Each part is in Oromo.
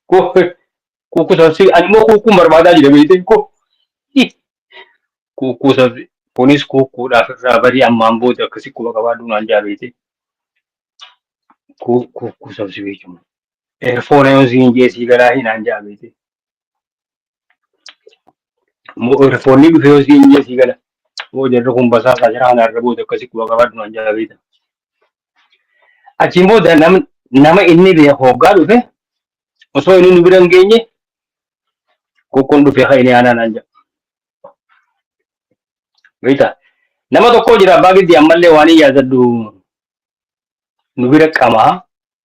Koo kuukkuu sabsi ani immoo kuukkuun barbaadaa jira beekte koo kuukkuu sabsi kunis kuukkuudhaaf irraa barii ammaan booda akkasi quba qabaadhu naan jaa beekte kuu kuukkuu sabsi beekuma. Eerfoona yoon siin jee sii galaa hinaan jaa beekte. Foonni dhufee yoo siin jee sii gala. Moo jarri kun basaasaa jira kana irra booda akkasii quba qabaadhu naan jala beekta. Achiin booda nam- nama inni beeku hoggaa dhufe osoo inni nu bira hin geenye qoqqoon dhufee kan inni aanaa naan jedha. Beekta. Nama tokko jira abbaa giddii ammallee waan hin yaadadhu nu bira qamaa.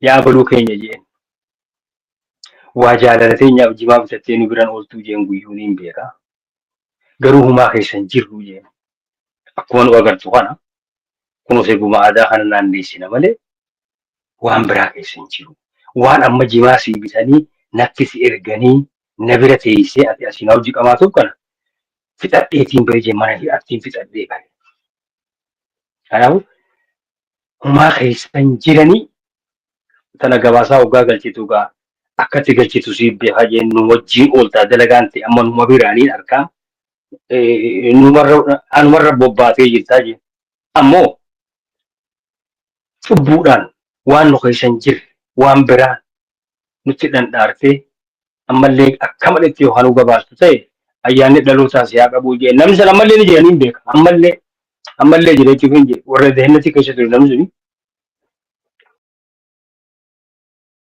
Yaa baluu keenya je'en. Waa jaalala teenyaaf jimaa bitattee nu biran ooltuu je'en guyyuu niin beeka. Garuu humaa keessa hin jirru je'en. Akkuma nu agartu kana kunoos eeguma aadaa kana naanneessina malee waan biraa keessa hin jiru. Waan amma jimaa sii bitanii natti si erganii na bira teessee ati asii na wajji qamaatuuf kana fixadheetiin bari je'e mana hidhaattiin fixadhee bari. Kanaafuu humaa keessa hin jiranii tana gabaasaa hoggaa galchitu gaa akkatti galchitu siif beekaa jeen nu wajjii ooltaa dalagaan ta'e amma numa biraa niin arkaa eh, numarra anumarra bobbaatee jirtaa jeen ammoo cubbuudhaan waan nu keessa hin jirre waan biraa nutti dhandhaartee ammallee akka malee itti yookaan nu gabaastu ta'e ayyaanni dhalootaa si haa qabuu jee namni sana ammallee ni jira niin beeka ammallee ammallee jira jechuuf hin jee warra dehennatii keessa ture namni suni